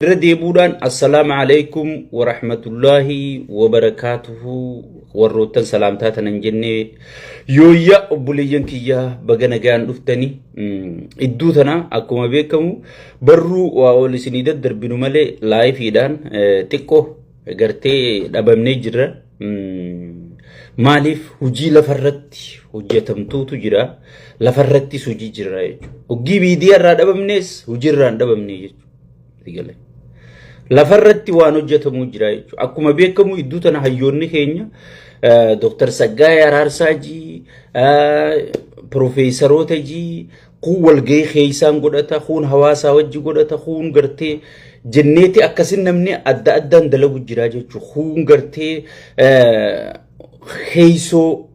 Irra deebuudhaan Assalaamu Alaikum wa rahmatullaahi wa barakaatuhu warroottan salaamtaa tanan jennee yooyya obboleeyyan kiyyaa baga nagaan dhuftani idduu tana akkuma beekamu barruu waa ol isinii daddarbinu malee laayifiidhaan xiqqoo gartee dhabamnee jirra. Maaliif hojii lafarratti hojjetamtuutu jira lafarrattis hojii jira jechuudha. Hoggii miidiyaa irraa dhabamnees hojiirraa hin dhabamne jechuudha. Eegale. Lafarratti waan hojjetamuu jira jechuudha. Akkuma beekamu iddoo tana hayyoonni keenya eh, Dr. Saggaayee Araarsaa jii, eh, Profeesaroota jii, kuun walgahii keessaan godhata, kuun hawaasaa wajji godhata, kuun gartee jenneeti akkasin namni adda addaan dalagu jira jechuudha. Kuun gartee eh, keessoo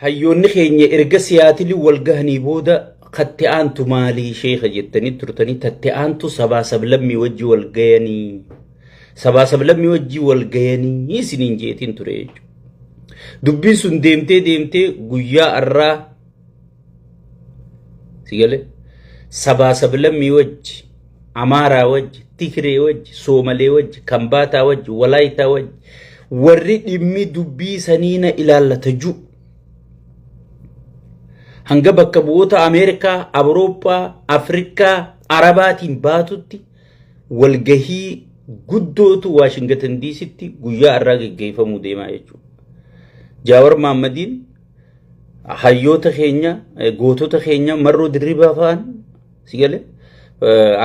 Hayyoonni keenya erga Siyaatili wal gahanii booda katti aantu maalii sheeka jettanii turtanii tatti aantu sabaa sablammii wajji wal gayanii sabaa sablammii wajji wal gayanii isiniin jeetiin ture jechuudha. Dubbiin sun deemtee deemtee guyyaa arraa si galee sabaa sablammii wajji Amaaraa wajji, Tigree wajji, Soomalee wajji, Kambaataa wajji, Walaayitaa wajji warri dhimmi dubbii sanii na ilaallata jiru. Hanga bakka bu'oota Ameerikaa, Awurooppaa, Afrikaa, Arabaatiin baatutti walgahii guddootu Waashingatan Diisitti guyyaa irraa geggeeffamuu deemaa jechuudha. Jaawar Maammadiin hayyoota keenya, gootota keenya marroo dirribaa fa'an Si gale?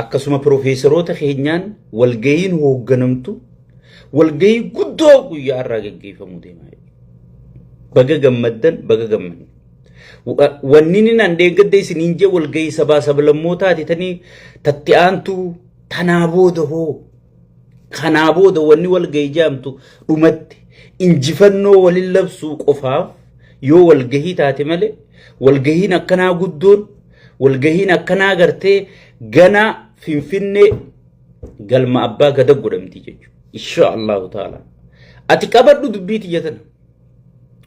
Akkasuma piroofeesaroota keenyaan walga'iin hoogganamtu walga'ii guddoo guyyaa irraa gaggeeffamu deema. Baga gammaddan baga gammadne. Wanni inni naan deeggadde isiniin jee walga'ii sabaa sablammootaati tanii tatti aantu tanaa booda hoo kanaa booda wanni walga'ii jaamtu dhumatti injifannoo walin labsuu qofaaf yoo walgahii taate malee walgahiin akkanaa guddoon Walgahiin akkanaa gartee gana Finfinnee galma abbaa gada godhamti jechuudha. Insha Allahu ta'ala. Ati qabadhu dubbii tiyya tana.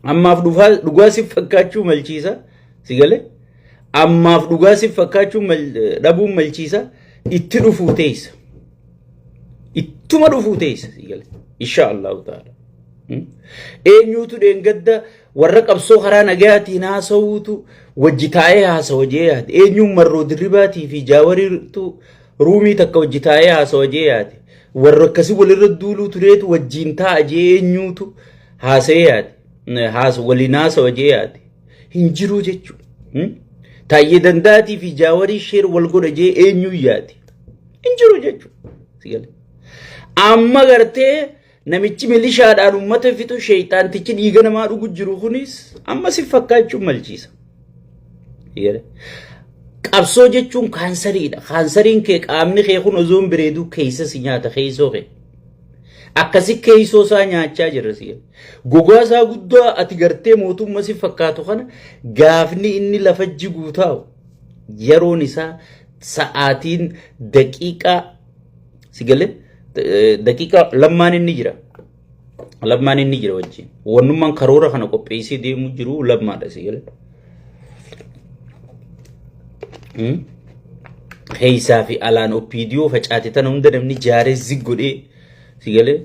Ammaaf dhufaa- dhugaa siif fakkaachuu malchiisa. Si galee? Ammaaf dhugaa siif fakkaachuu mal- dhabuun malchiisa. Itti dhufuu teessa. Ittuma dhufuu teessa. Si galee? Insha Allahu ta'ala. Hmm? Eenyuutu dheengadda Warra qabsoo karaa nagayaatiin haasawuutu wajji taa'ee haasawa jee yaade. Eenyuun marroo dirribaatii fi jaawariirtu ruumii takka wajji taa'ee haasawa jee yaade. Warra akkasii walirra duuluu tureetu wajjiin taa'a jee eenyuutu haasa'ee yaade. Haasa waliin haasawa jee yaade. Hin jiruu jechuudha. Taayyee dandaatii fi jaawarii sheer wal godha jee eenyuun yaade. Hin jiru jechuudha. Amma gartee Namichi milishaadhaan uummata fixu sheeyxaantichi dhiiga namaa dhugu jiru kunis amma si fakkaachuun malchiisa. Qabsoo jechuun kaansariidha. Kaansariin kee qaamni kee kun osoo hin bireeduu keessa si nyaata keessoo kee. Akkasi keessoo isaa nyaachaa jirra si. Gogaa isaa guddaa ati gartee mootummaa si fakkaatu kana gaafni inni lafa jiguu taa'u yeroon isaa sa'aatiin daqiiqaa Si galee daqiiqaa lammaan inni jira. Lammaan inni jira wajjin. Wannummaan karoora kana qopheessee deemu jiru lammaadha si galee. Keessaa fi alaan oppiidiyoo facaate tana hunda namni jaaree zig godhee si galee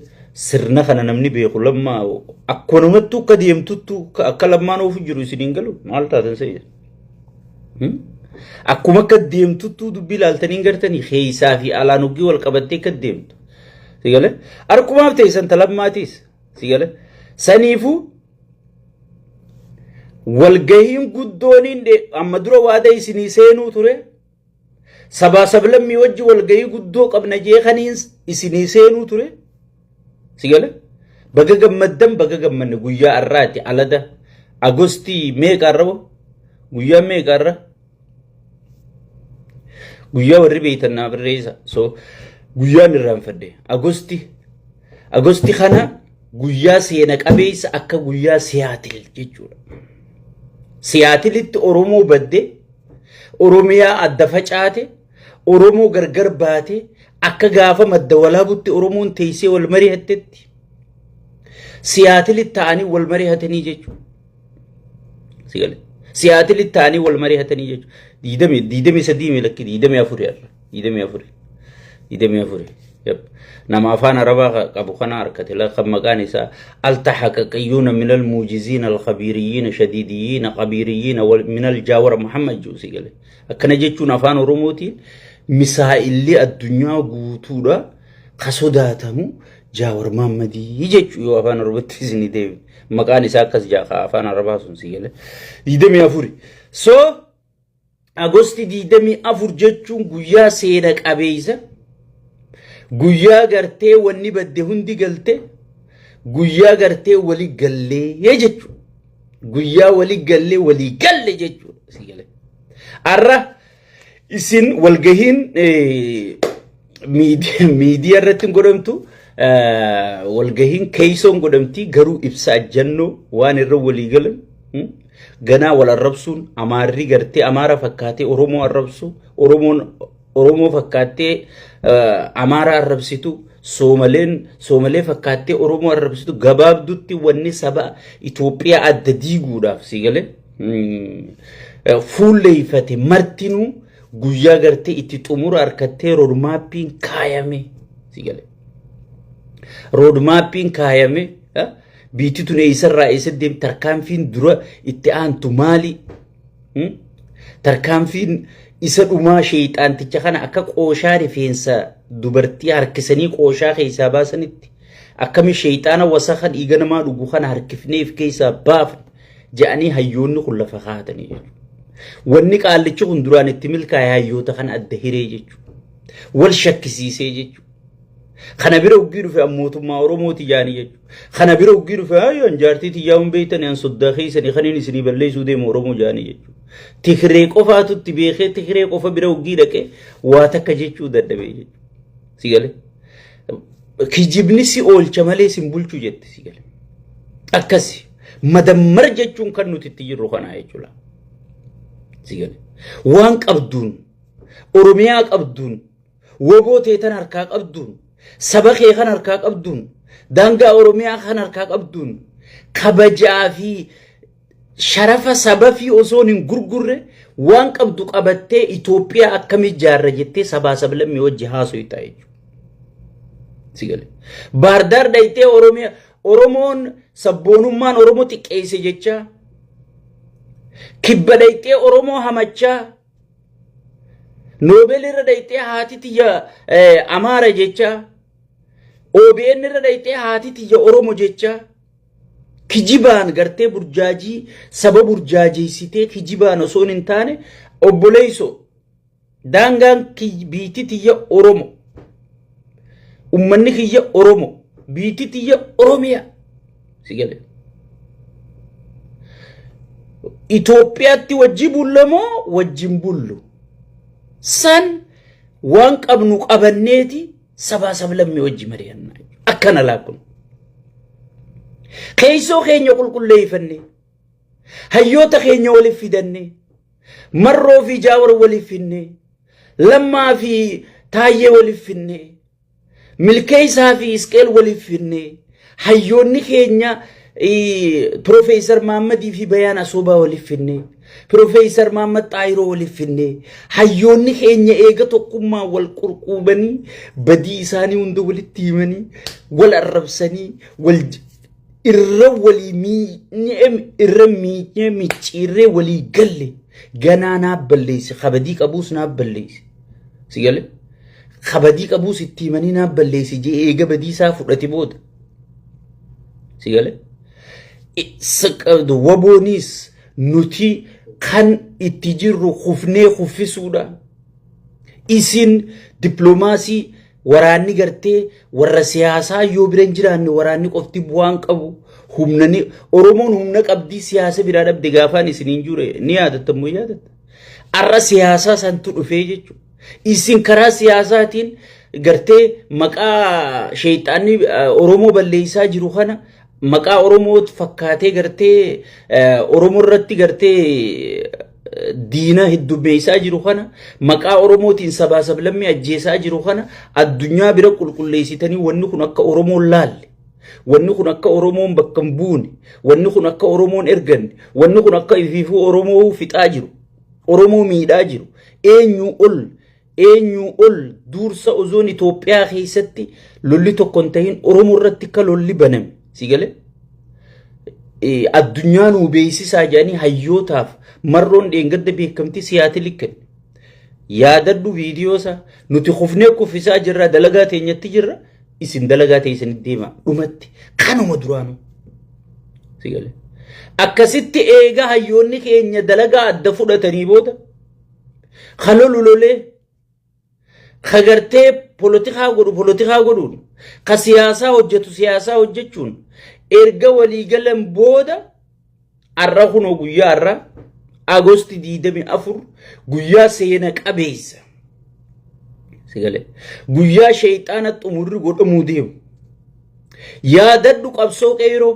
sirna kana namni beeku lammaa akkuma namattuu akka deemtuttu akka lammaan oofu jiru isin hin galu maal taatan se'e. Akkuma akka deemtuttuu dubbii ilaaltanii gartanii keessaa fi alaan hoggii wal qabattee akka deemtu. Sigale harkumaaf ta'e san talammaatiis. Sigale saniifuu walgahiin guddooniin amma dura waada isinii seenuu ture sabaa sablammii wajji walgayii guddoo qabna jee kaniin isinii seenuu ture si gale baga gammaddan baga gammanne guyyaa arraati alada agostii meeqa arra bo guyyaa meeqa arra guyyaa warri beeytan naa barreessa so guyyaan irraanfadde agosti agosti kana guyyaa seena qabeessa akka guyyaa siyaatil jechuudha siyaatilitti oromoo badde Oromiyaa adda facaate, Oromoo gargar baate, akka gaafa madda walaabutti Oromoon teessee wal mari'attetti siyaatilitti ta'anii wal mari'atanii jechuudha. Siyaatilitti ta'anii wal mari'atanii jechuudha. Diidamii sadii miilakki diidamii afurii irra. digdamii afuri digdamii afuri yep. nama afaan arabaa ka- qabu kana harkate la kan maqaan isaa altaxaqaqiyuuna min almuujiziina alkabiiriyyiina shadiidiyyiina qabiiriyyiina wal- min aljaawara muhammad juusi gale akkana jechuun afaan oromootiin misaa'illi addunyaa guutuudha ka sodaatamu jaawar maammadii jechuu yoo afaan oromootti isinii deebi maqaan isaa akkas jaa ka afaan arabaa sun si gale digdamii afuri so Agosti 24 jechuun guyyaa seena qabeessa, guyyaa gartee wanni badde hundi galte, guyyaa gartee wali gallee jechuudha. Guyyaa wali gallee walii galle jechuudha. Sii galee. Har'a isin walgahiin eh, miidi- miidiyaa irratti hin godhamtu eh, walgahiin keeysoon godhamti garuu ibsa ajjannoo waan irra walii galan hmm, Ganaa wal arrabsuun Amaarri gartee Amaara fakkaatee Oromoo arrabsu, Oromoon Oromoo fakkaattee Amaara arrabsitu, Soomaleen Soomalee fakkaattee Oromoo arrabsitu gabaabdutti wanni saba Itoophiyaa adda diiguudhaaf sii galee fuulleeffate martinuu guyyaa gartee itti xumura harkattee roodmaappiin kaayame sii galee. Roodmaappiin kaayame Biitti tun eessarraa eessa deemti? Tarkaanfiin dura itti aantu maali? Hmm? Tarkaanfiin isa dhumaa sheeyxaanticha kana akka qooshaa rifeensa dubartii harkisanii qooshaa keessaa baasanitti akkami sheeyxaana wasaka dhiiga namaa dhugu kana harkifneef keessaa baafne jedhanii hayyoonni kun lafa kaa'atanii jiru. Wanni qaallichi kun duraan itti milkaa'e hayyoota kana adda hiree jechuudha. Wal shakkisiisee jechuudha. Kana bira uggii dhufe an mootummaa Oromoo tiyyaanii jechuudha. Kana bira uggii dhufe ayyo an jaartii tiyyaa hin beektani an soddaa keessani kan inni isinii balleessuu deemu Oromoo jaanii jechuudha. Tikiree qofaatu itti beekee tikiree qofa bira uggii dhaqee waa takka jechuu dadhabee jechuudha. Si galee? Kijibni si oolcha malee sin bulchu jette si galee. Akkasi madammar jechuun kan nuti itti jirru kanaa jechuudha. Si galee? Waan qabduun Oromiyaa qabduun Woboo tee tan harkaa qabduun, saba kee kan harkaa qabduun, daangaa Oromiyaa kan harkaa qabduun, kabajaa fi sharafa saba fi osoon hin gurgurre waan qabdu qabattee Itoophiyaa akkamii ijaarra jettee sabaa sablammii wajji haasoytaa jechuudha. Si galee. Baardaar dhayxee Oromiyaa Oromoon sabboonummaan Oromoo xiqqeesse jechaa kibba dhayxee Oromoo hamachaa Noobel irra dhayxee haati tiyya Amaara jecha OBN irra dhayxee haati tiyya Oromo jecha kijibaan gartee burjaajii saba burjaajeessitee kijibaan osoo hin taane obboleeysoo daangaan biitti tiyya Oromo Ummanni kiyya Oromo. Biitti tiyya Oromiyaa. Si galee. Itoophiyaatti wajji bulla moo wajjin bullu? San waan qabnu qabanneeti sabaa sablammii wajji mari'annaa. Akkana laa kun. Keessoo keenya qulqulleeffannee hayyoota keenya waliif fidannee marroo fi jaawar waliif finnee Lammaa fi Taayyee waliif finnee, Milkeessaa fi Isqeel waliif finnee, hayyoonni keenya Piroofeesar Maammadii fi Bayaan Asoobaa waliif finnee, Piroofeesar Maammad Xaayiroo waliif finnee, hayyoonni keenya eega tokkummaa wal qurquubanii badii isaanii hunda walitti himanii wal arrabsanii wal irra walii miinyee irra miinyee micciirree walii galle ganaa naa balleessi kabadii qabuus naa balleessi si galee kabadii qabuus itti himanii naa balleessi jee eega badiisaa fudhate booda si galee wabooniis nuti kan itti jirru kufnee kuffisuudha isin dippiloomaasii Waraanni gartee warra siyaasaa yoo bira hin jiraanne waraanni qofti bu'aan qabu humna ni Oromoon humna qabdii siyaasa biraa dhabde gaafaan isin hin jure ni yaadattan moo yaadatta. Arra siyaasaa santu dhufee jechuudha. Isin karaa siyaasaatiin gartee maqaa sheexaanni Oromoo balleessaa jiru kana maqaa Oromoo fakkaatee gartee Oromoo irratti gartee diinaa heddummeessaa jiru kana maqaa Oromootiin sabaa sablammii ajjeesaa jiru kana addunyaa bira qulqulleessitanii wanni kun akka Oromoon laalle wanni kun akka Oromoon bakka hin buune wanni kun akka Oromoon erganne wanni kun akka ifiifuu Oromoo fixaa jiru Oromoo miidhaa jiru eenyuu ol Eenyuu ol duursa ozoon Itoophiyaa keessatti lolli tokko hin tahin Oromoo irratti akka lolli baname si gale addunyaa nuu beeksisaa jedhanii hayyootaaf marroon dheengadda beekamtii siyaatili kenne. Yaadadhu viidiyoosa nuti kufnee kuffisaa jirra dalagaa teenyatti jirra isin dalagaa teessanitti deema dhumatti kanuma duraanuu si gale. Akkasitti eegaa hayyoonni keenya dalagaa adda fudhatanii booda. ka lolu lolee ka gartee polotikaa godhu polotikaa godhuun ka siyaasaa hojjetu siyaasaa hojjechuun erga walii galan booda har'a kunoo guyyaa har'a agosti 24 guyyaa seena qabeessa sigalee guyyaa sheeyxaana xumurri godhamuu deemu yaadadhu qabsoo qeeroo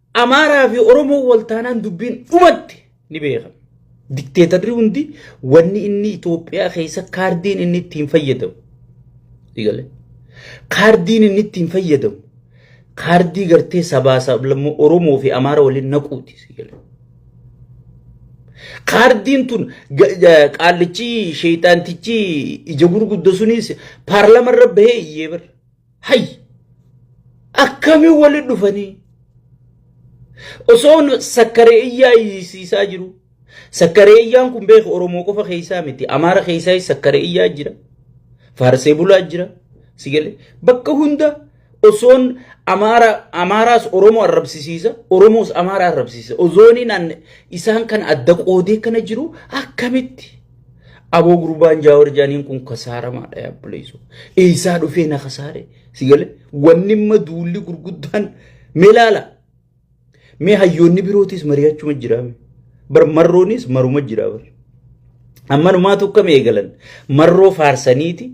Amaaraa fi Oromoo wal taanaan dubbiin dhumatte ni beekama. Dikteetarri hundi wanni inni Itoophiyaa keessa kaardiin inni ittiin fayyadamu. Digalee. Kaardiin inni ittiin fayyadamu. Kaardii gartee sabaa sablammoo Oromoo fi Amaara waliin naquuti. Digalee. Kaardiin tun ga- ga- qaallichi sheeyxaantichi ija gurgudda sunis paarlamarra bahee iyyee bara. Hay! Akkamiin walitti dhufanii? Osoo sakkaree iyyaa iyyisiisaa jiru. Sakkaree iyyaan kun beeku Oromoo qofa keessaa miti. Amaara keessaa sakkaree iyyaa jira. Faarsee bulaa jira. Sigale bakka hunda osoon Amaara Amaaraas Oromoo arrabsisiisa. Oromoos Amaara arrabsisiisa. Osooniin isaan kan adda qoodee kana jiru akkamitti? Aboo gurbaan jaawar jaaniin kun kasaaramaadha yaa buleessu. Eessaa dhufee na kasaare si gale wanni imma duulli gurguddaan mee laala. Mee hayyoonni birootis mari'achuma jiraame. Bar marroonis maruma jira bar. Amma numaa tokko mee eegalan marroo faarsaniiti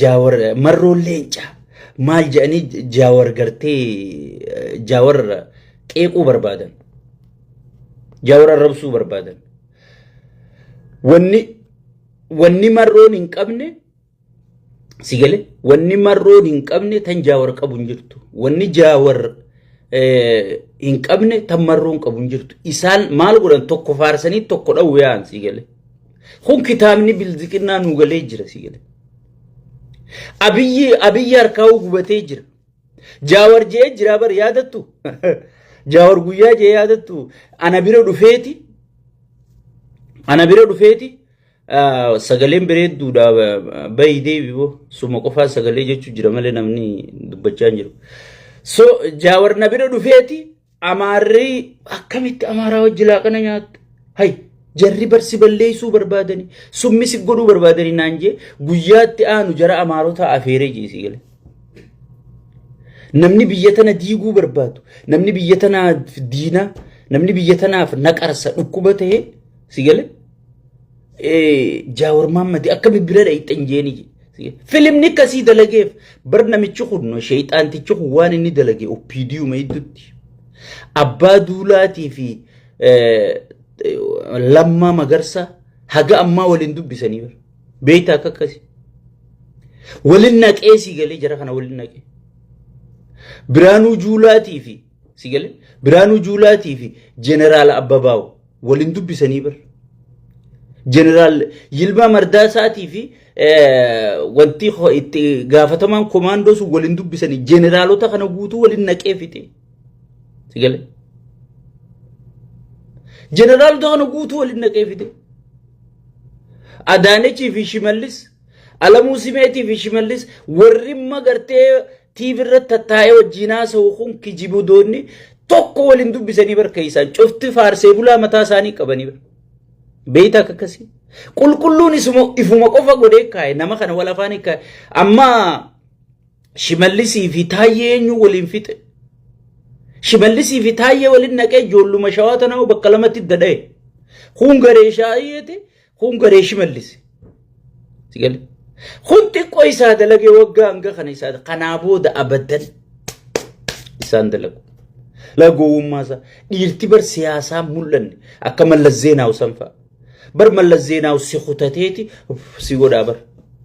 jaawar marroon leencaa maal jedhanii jaawar gartee jaawar qeequu barbaadan. Jaawar arrabsuu barbaadan. Wanni wanni marroon hin qabne si gale wanni marroon hin qabne tan jaawar qabu hin jirtu. Wanni jaawar hin qabne tan marroon qabu hin jirtu. Isaan maal godhan tokko faarsanii tokko dhawwu yaa'an si gale. Kun kitaabni bilziqinnaa nu galee jira si gale. Abiyyi abiyyi harkaa gubatee jira. Jaawar je'ee jiraa bar yaadattu. Jaawar guyyaa je'ee yaadattu ana bira dhufeeti. Ana bira dhufeeti. ah, Sagaleen bareedduudha bayi deebi boo suma qofaa sagalee jechuu jira malee namni dubbachaa hin jiru. So jaawar na bira dhufeeti. Amaarri akkamitti amaaraa wajji laaqana nyaatta? Hay jarri barsi balleessuu barbaadanii summi si godhuu barbaadanii naan jee guyyaatti aanu jara amaarotaa afeeree jee si gale. Namni biyya tana diiguu barbaadu, namni biyya tanaaf diinaa, namni biyya tanaaf naqarsa dhukkuba ta'e si gale. Jaawar Maammadi akka bibbira dhayxan jeeni filimni akkasii dalageef bar namichi kun sheexaantichi kun waan inni dalage oppiidiyuma hedduutti abbaa duulaatii fi lammaa magarsa haga ammaa waliin dubbisanii bar beektaa akka akkasi waliin naqee sii galee jara kana waliin naqee biraanuu juulaatii fi Si galee? Biraanuu Juulaatii fi Jeneraal Abbabaawu waliin dubbisanii bar. Jeneraal Yilmaa Mardaasaatii fi wanti itti gaafatamaan komaandoo sun waliin dubbisanii jeneraalota kana guutuu waliin naqee fixe. Si galee? Jeneraalota kana guutuu waliin naqee fixe. Adaanechii fi Shimallis Alamuu Simeetii fi Shimallis warri imma gartee TV irratti tattaa'ee wajjin haasa'u kun kijibudoonni tokko waliin dubbisanii barkeessaan cufti faarsee bulaa mataa isaanii qabanii bara. Beeyta akka akkasii. Qulqulluun isuma ifuma qofa godhee kaa'e nama kana wal afaan kaa'e amma shimallisii fi taayyee eenyu waliin fixe. Shimallisii fi taayyee waliin naqee ijoolluma shawaa tanaa bakka lamatti dadhaye. Kun garee shaayeeti Kun garee shimallis. Sigale. Kun xiqqoo isaa dalage waggaa hanga kana isaa kanaa booda abadan isaan dalagu. Lagowwummaa isaa dhiirti bar siyaasaa mul'anne akka mallas zeenaawu san fa'a. Bar mallas zeenaawu si kutateeti si godhaa bar.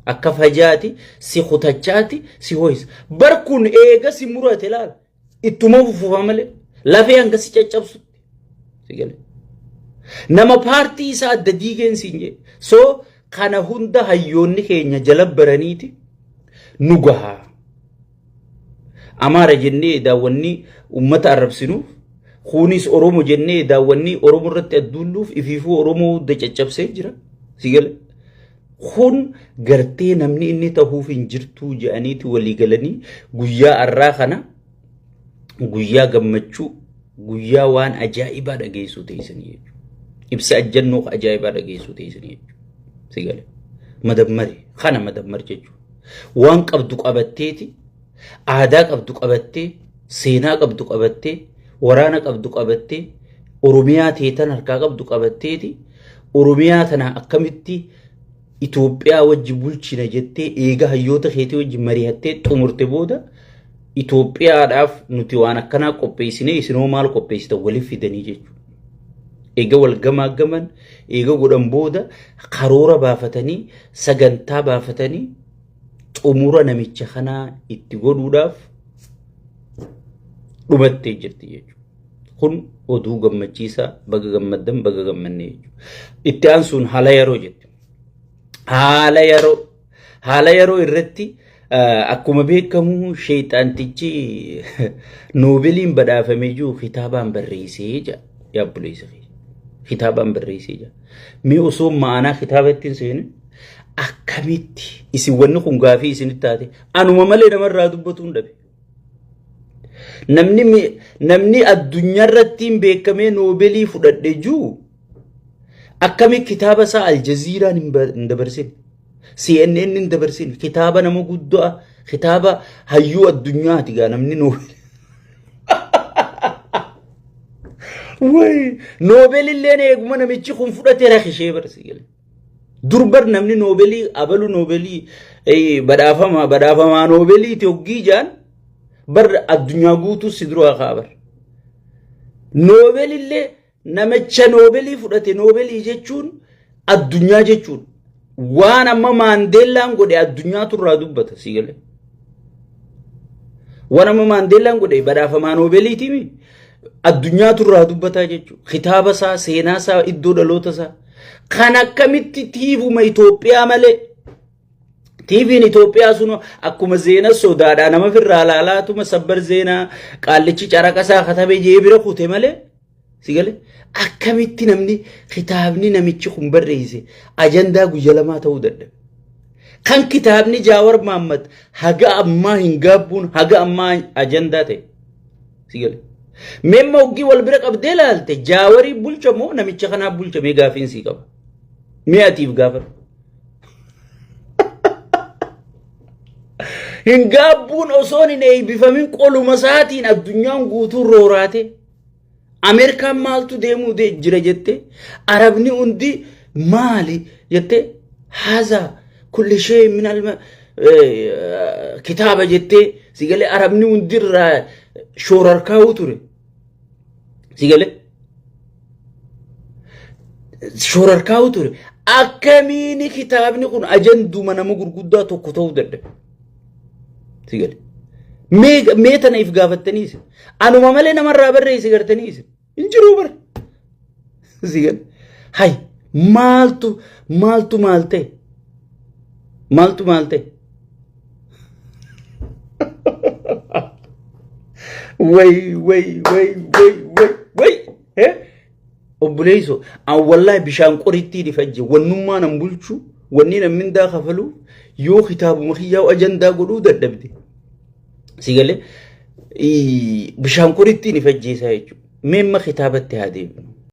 Akka fajaati si kutachaati si ho'isa. Bar kun eega si murate laala. Ittuma fufufa malee lafee hanga si caccabsutti. Si gale. Nama paartii isaa adda diigeen siin jee. So kana hunda hayyoonni keenya jala baraniiti nu gaha. Amaara jennee daawwannii uummata arrabsinuuf kunis Oromo jennee daawwannii Oromo irratti adduulluuf ifiifuu Oromoo hunda caccabsee jira. Si gale. Kun gartee namni inni tahuuf hin jirtuu jedhaniiti walii galanii guyyaa arraa kana guyyaa gammachuu guyyaa waan ajaa'ibaa dhageessuu teessanii jechuudha. Ibsa ajjannoo ajaa'ibaa dhageessuu teessanii jechuudha. Sigale. Madammari. Kana madammar jechuudha. Waan qabdu qabatteeti Aadaa qabdu qabattee, seenaa qabdu qabattee, waraana qabdu qabattee, Oromiyaa teetan harkaa qabdu qabatteeti. Oromiyaa tana akkamitti Itoophiyaa wajji bulchina jettee eega hayyoota keetii wajji mari'attee xumurte booda Itoophiyaadhaaf nuti waan akkanaa qopheessine isinoo maal qopheessitan waliif fidanii jechuudha. Eega wal gamaaggaman eega godhan booda karoora baafatanii sagantaa baafatanii xumura namicha kanaa itti godhuudhaaf dhumattee jirti jechuudha. Kun oduu gammachiisaa baga gammaddan baga gammannee jechuudha. Itti aansuun haala yeroo jetti. Haala yeroo haala yeroo irratti akkuma beekamu sheexaantichi noobeeliin badhaafamee jiru kitaabaan barreessee jira. Yaabbuleessa kitaabaan barreessee jira. Mee osoo ma'anaa kitaaba ittiin seene akkamitti isin wanni kun gaafii isinitti taate anuma malee namarraa dubbatu hin dhabe. Namni mi- namni addunyaa irratti hin beekamee noobeelii fudhadhe juu akkami kitaaba isaa aljaziiraan hin ba- hin dabarsine. CNN hin dabarsin kitaaba nama guddaa kitaaba hayyuu addunyaati gaa namni noobel. Wayi noobel illee eeguma namichi kun fudhatee rakishee barsi galee. Durbar namni noobelii abalu noobelii eh, badhaafama badhaafamaa noobeliiti hoggii jaan bar addunyaa guutuu si duraa kaabar. Noobel illee Namicha noobelii fudhate noobelii jechuun addunyaa jechuudha. Waan amma maandeellaan godhe addunyaatu irraa dubbata sii galee. Waan amma maandeellaan godhe badhaafamaa noobeliitiimi addunyaatu irraa dubbataa jechuudha. Kitaaba isaa, seenaa isaa, iddoo dhaloota isaa. Kan akkamitti tiivuma Itoophiyaa malee TVn Itoophiyaa sun akkuma zeena sodaadhaa nama firraa laalaatuma sabbar zeenaa qaallichi caraqa isaa katabee jee bira kute malee Sigale akkamitti namni kitaabni namichi kun barreesse ajandaa guyya lamaa ta'uu dadhabe. Kan kitaabni Jaawar Maammat haga ammaa hin gaabbuun haga ammaa ajandaa ta'e. Sigale. Memma hoggii wal bira qabdee laalte Jaawarii bulcha moo namicha kanaa bulcha mee gaafiin sii qaba. Mee atiif gaafadhu. Hin gaabbuun osoon hin eeybifamin qoluma isaatiin addunyaan guutuu rooraatee. Ameerikaan maaltu deemuu de- jira jette arabni hundi maali jette haza kulli shee min alma eh, kitaaba jette sigalee arabni hundi irraa shoorarkaa'uu ture sigalee shoorarkaa'uu ture akkamiini kitaabni kun ajanduma nama gurguddaa tokko ta'uu danda'e Si gale. Mee mee tana if gaafattanii isin. Anuma malee namarraa barreessi gartanii isin. Hin jiruu bar. Si gale. Hay maaltu maaltu maal ta'e? Maaltu maal ta'e? Way way way way way way. Eh? Obboleesso an wallahi bishaan qorittiin ifajje wannummaa nan bulchu wanni nan mindaa kafalu yoo kitaabuma kiyyaa ajandaa godhuu dadhabde si galee bishaan qorittiin ifajjeessaa jechuudha. Mee amma kitaabatti haa deebinu.